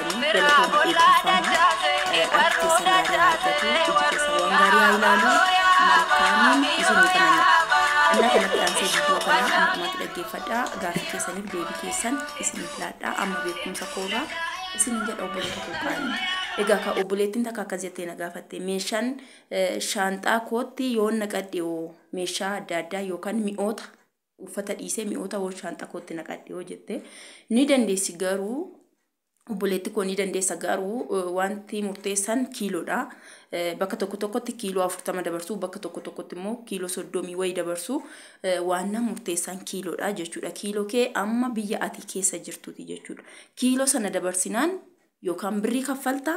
Galatooma eebbifamaa. Artii san gaarii haa argatu. Iji keessa waan gaarii haa ilaalu. Malkaamin isin hin qamanna. Annaa kana fidhaansa viidiyoo kana amma dhumaatti dhaggeeffadha. Gaaffii keessaniif deebii keessan isiniif laadha. Amma beekumsa koorraa isinin jedha obboloota koo qaali. Egaa ka obboleettiin takka akkas jettee na gaafatte meeshaan shaanxaa kootti yoon naqadhe hoo meeshaa adda addaa yookaan mi'oota uffata dhiisee mi'oota wal shaanxa kootti naqadhe yoo jette ni dandeessi garuu obboleetti koo ni dandeessa garuu eh, wanti murteessan kiiloodha. Eh, Bakka tokko tokkotti kiiloo afurtama dabarsu bakka tokko tokkotti immoo kiiloo soddomii wayi dabarsu Eh, waanna murteessan kiiloodha jechuudha. Kiiloo kee amma biyya ati keessa jirtuti jechuudha. Kiiloo sana dabarsinaan Yookaan birrii kaffalta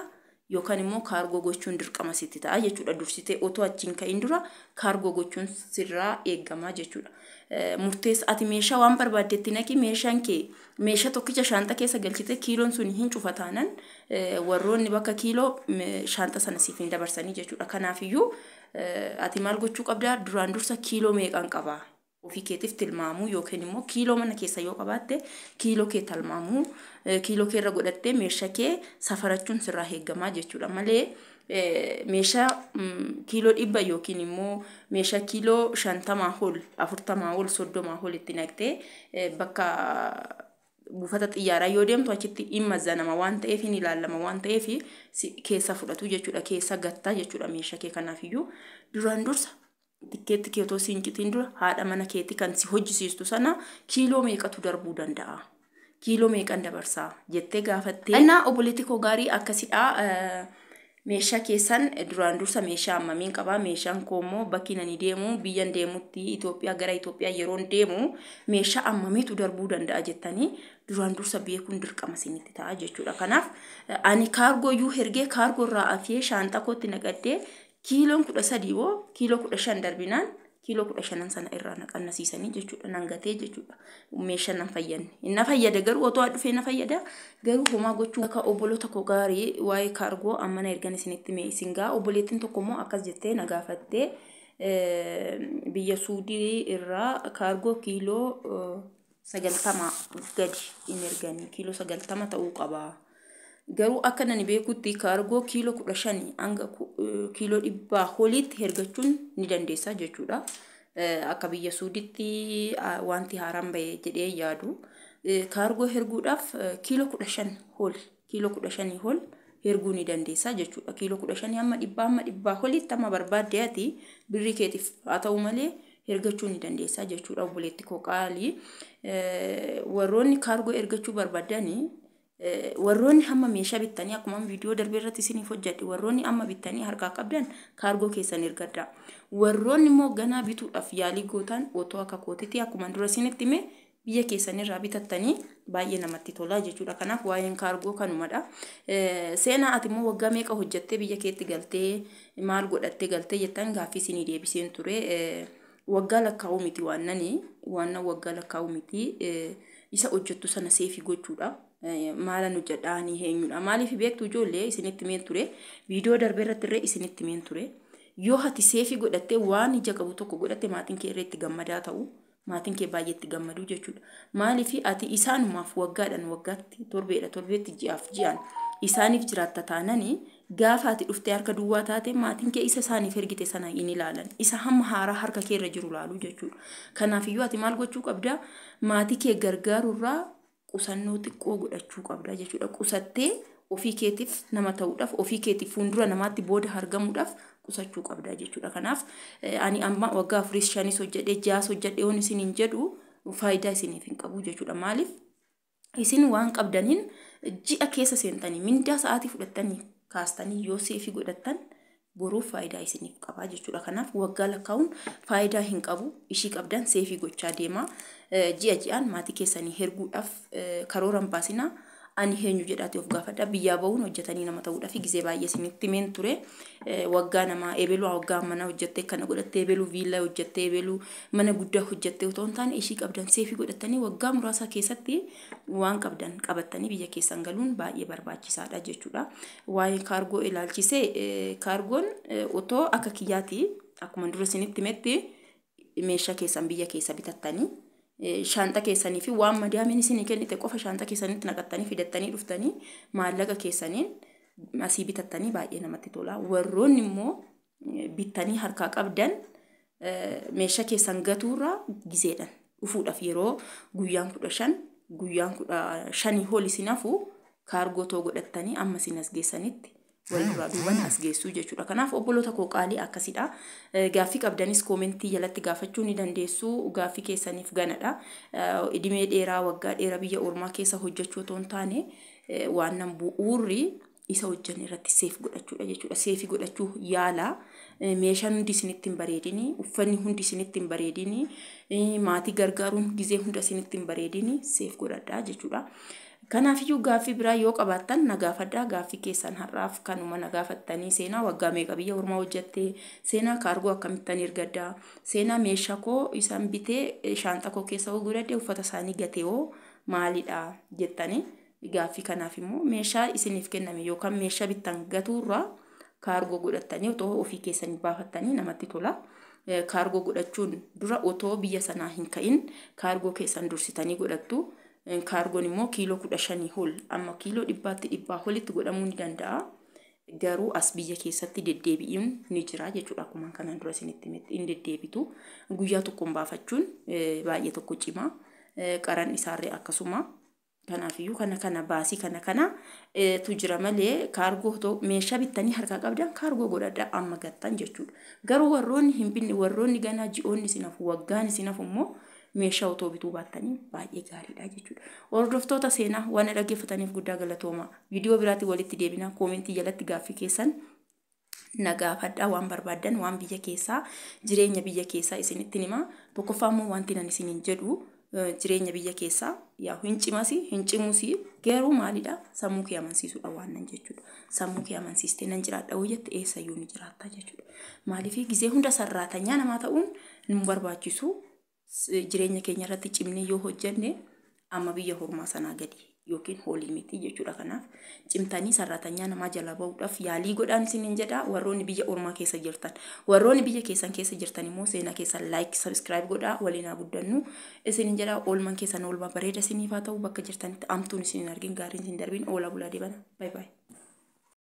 yookaan immoo kaargoo gochuun dirqama sitti ta'a jechuudha. Dursitee otoo achi hin ka'in dura kaargoo gochuun sirraa eegama jechuudha. Eh, Murteessa ati meeshaa waan barbaaddetti naqi meeshaan kee meeshaa tokkicha shaanxa keessa galchite kiiloon sun hin cufa taanan eh, warroonni bakka kiiloo me- shaanxa sana siif hin dabarsanii jechuudha. Kanaafiyyuu eh, ati maal gochuu qabdaa duraan dursa kiiloo meeqan qabaa? ofii keetiif tilmaamuu yookiin immoo kiiloo mana keessa yoo qabaatte kiiloo kee tilmaamuu eh, kiiloo kee irra godhattee meeshaa kee safarachuun sirraa eegamaa jechuudha malee eh, meeshaa mm, kiiloo dhibba yookiin immoo meeshaa kiiloo shantamaa ol afurtamaa ol soddomaa ol itti naqxee eh, bakka buufata xiyyaaraa yoo deemtu achitti in mazzanama waan ta'eef in ilaalama waan ta'eef si- keessa fudhatu jechuudha keessa gattaa jechuudha meeshaa kee kanaafiyyuu duraan dursa Tikkeetti kee otoo si hin citiin dura haadha mana keetii kan si hojjisiistu sana kiiloo meeqatu darbuu danda'a? Kiiloo meeqan dabarsaa? jettee gaafattee. Innaa obboleetti koo gaarii akkasidha. Meeshaa keessan duraan dursa meeshaa ammamiin qaba. Meeshaan koo immoo bakki nani deemu biyyan deemutti Itoophiyaa gara Itoophiyaa yeroon deemu meeshaa ammamiitu darbuu danda'a jettanii duraan dursa beekuun dirqama isinitti ta'a jechuudha. Kanaaf ani kaargoo iyyuu hergee kaargoo irraa afee shaanxaa kootti naqadhee kiiloon kudha sadii woo kiiloo kudha shan darbinaan kiiloo kudha shanan sana irraa na qannasiisanii jechuudha nan gatee jechuudha meeshaa nan fayyadne na fayyada garuu otoo dhufee na fayyada garuu homaa gochuu akka obboloota koo gaarii waa'ee kaargoo ammana ergan isinitti mee isin gaa obboleettiin tokko immoo akkas jettee na gaafattee biyya suudii irraa kaargoo kiiloo 90 of gadi in erganii kiiloo 90 ta'uu qaba. Garuu akka nani beekutti kaargoo kiiloo 15 hanga ku- eh, kiiloo dhibbaa holiitti hergachuun ni dandeessa jechuudha. Eh, Akka biyya Suuditti ah, wanti haaraan bahe jedhee yaadu eh, kaargoo herguudhaaf eh, kiiloo 15 hol kiiloo 15 ol herguu ni dandeessaa jechuudha. Kiiloo 15 amma dhibbaa amma dhibbaa olitti amma barbaadde ati birrii keetiif haa ta'u malee ergachuu ni dandeessaa jechuudha obboleetti koo qaalii. Warroonni kaargoo ergachuu barbaadanii warroonni hamma meeshaa bittanii akkuma viidiyoo darbe irratti isiniif hojjedhe warroonni amma bittanii harkaa qabdan kaargoo keessan ergadhaa. Warroonni immoo ganaa bituudhaaf yaalii gootan otoo akka kootitii akkuma dura isinitti hime biyya keessan irraa bitattanii baay'ee namatti tola jechuudha. Kanaaf waa'een kaargoo kanumadha. Seenaa ati immoo waggaa meeqa hojjettee biyya keetti galtee maal godhattee galtee jettan gaaffii isinii deebiseen ture. Waggaa lakkaa'uu miti waannani waannan waggaa lakkaa'uu miti isa hojjettu sana seefii gochuudha. Maalan hojjedha ani eenyudha maaliif beektu ijoollee isinitti meen ture viidiyoo darbe irratti irree isinitti meen ture yoo ati seefii godhattee waan ija qabu tokko godhatte maatiin kee irree itti gammadaa ta'u. maatiin kee baay'ee itti gammaduu jechuudha. Maaliif ati isaanumaaf waggaadhaan waggaatti torbeedha torbeetti ji'aaf ji'aan isaaniif jiraatta taanani gaafa ati dhuftee harka duwwaa taate maatiin kee isa isaaniif ergite sana hin ilaalan isa hamma haaraa harka kee irra jiru ilaaluu jechuudha. Kanaafiyyuu ati maal gochuu qabda maatii kee gargaaruurraa qusannoo xiqqoo godhachuu qabda jechuudha. Qusattee ofii keetiif nama ta'uudhaaf, ofii keetiif fuuldura namaatti booda hargamuudhaaf qusachuu qabda jechuudha. Kanaaf ani amma waggaa afuris shanis hojjedhee jaas hojjedhee yoon isin hin jedhu faayidaa isiniif hin qabu jechuudha. Maaliif isin waan qabdaniin ji'a keessa seentanii mindaa sa'aatii fudhattanii kaastanii yoo seefii godhattan boruuf faayidaa isiniif qabaa jechuudha. Kanaaf waggaa lakkaa'uun faayidaa hin qabu. Ishii qabdan seefii gochaa deemaa. Ji'a ji'aan maatii keessanii herguudhaaf karoora hin baasinaa. Ani eenyu jedhaati of gaafadha. Biyyaa ba'uun hojjetanii nama ta'uudhaaf gizee baay'ee isinitti himeen ture. Waggaa namaa eebeluu waggaa mana hojjettee kana godhattee eebeluu viillaa hojjettee eebeluu mana guddaa hojjettee otoo hin taane ishii qabdan seefii godhattanii waggaa muraasaa keessatti waan qabdan qabattanii biyya keessan galuun baay'ee barbaachisaadha jechuudha. Waa'ee kaargoo ilaalchisee eh, kaargoon eh, otoo akka kiyyaati akkuma dura isinitti himetti meeshaa keessan biyya keessa bitattanii eh, shaanxa keessanii fi waan madaamiin isinii kennite qofa shaanxa keessanitti naqattanii fidattanii dhuftanii maallaqa keessaniin asii bitattanii baay'ee namatti tola. Warroonni immoo bittanii harkaa qabdan meeshaa keessan gatuurraa gizeedhan dhufuudhaaf yeroo guyyaan kudha shan guyyaan kudha shanii hol isin hafu kaargoo too godhattanii amma isin as geessanitti wal duraa duuban as geessuu jechuudha. Kanaaf obboloota koo qaalii akkasidha. Gaaffii qabdanis koomentii jalatti gaafachuu ni dandeessu. Gaaffii keessaniif ganadha. Idimee dheeraa waggaa dheeraa biyya ormaa keessa hojjechuu otoo hin taane waan nan bu'uurri isa hojjanne irratti seef godhachuudha jechuudha. Seefi godhachuu yaala. Meeshaan hundi isinitti hin bareedini. Uffanni hundi isinitti hin bareedini. Maatii gargaaruun gizee hunda isinitti hin bareedini. Seef godhadhaa jechuudha. Kanaafiyyuu gaaffii biraa yoo qabaattan na gaafadhaa. Gaaffii keessan har'aaf kanuma na gaafattanii seenaa waggaa meeqa biyya ormaa hojjattee seenaa kaargoo akkamittan ergadhaa seenaa meeshaa koo isaan bitee shaanxa koo keessa hoo godhadhe uffata isaanii gatee hoo maalidha jettanii Gaaffii kanaaf immoo meeshaa isiniif kenname yookaan meeshaa bittan gatuurraa kaargoo godhattanii otoo ofii keessanii baafattanii namatti tola. Kaargoo godhachuun dura otoo biyya sanaa hin ka'in kaargoo keessan dursitanii godhattu. Kaargoon immoo kiiloo kudha shanii ol amma kiiloo dhibbaatti dhibbaa olitti godhamuu ni danda'a. Garuu as biyya keessatti deddeebi'uun ni jira jechuudha akkuma kanaan dura isinitti himetti hin deddeebitu. Guyyaa tokkoon baafachuun baay'ee tokko cimaa qaran isaarree akkasuma Kanaaf iyyuu kana kana baasii kana kana tu jira malee kaargoo too meeshaa bittanii harkaa qabdan kaargoo godhadha amma gattan jechuudha. Garuu warroonni hin binne warroonni ganaa ji'oonni sinaaf waggaan sinaaf immoo meeshaa otoo bituu baattanii baay'ee gaariidha jechuudha. Hordoftoota seenaa waan dhaggeeffataniif guddaa galatoomaa. Viidiyoo biraatti walitti deebinaa koomentii jalatti gaaffii keessan nagaafadha waan barbaaddan waan biyya keessaa jireenya biyya keessaa isinittin hima tokkoffaa immoo wanti nan isiniin jedhu eh, jireenya biyya keessaa yaa hin cimasi hin cimusi garuu maalidha sammuu kee amansiisudha waan nan jechuudha sammuu kee amansiistee nan jiraadha yoo jette eessayyuu ni jiraatta jechuudha maaliif gizee hunda sarraatanyaa namaa ta'uun nu barbaachisu jireenya keenya irratti cimnee yoo hojjenne amma biyya hormaa sanaa gadi yookiin hoolii miti jechuudha kanaaf cimtanii sarratanyaa namaa jalaa ba'uudhaaf yaalii godhaan isiniin jedha warroonni biyya ormaa keessa jirtan warroonni biyya keessan keessa jirtan immoo seenaa keessan laayik sabiskiraayib godhaa waliin haa guddannu isiniin jedha oolman keessan oolmaa bareeda isiniif haa ta'u bakka jirtanitti amtuun isiniin argin gaariin isin darbin oolaa bulaa deebana baay baay.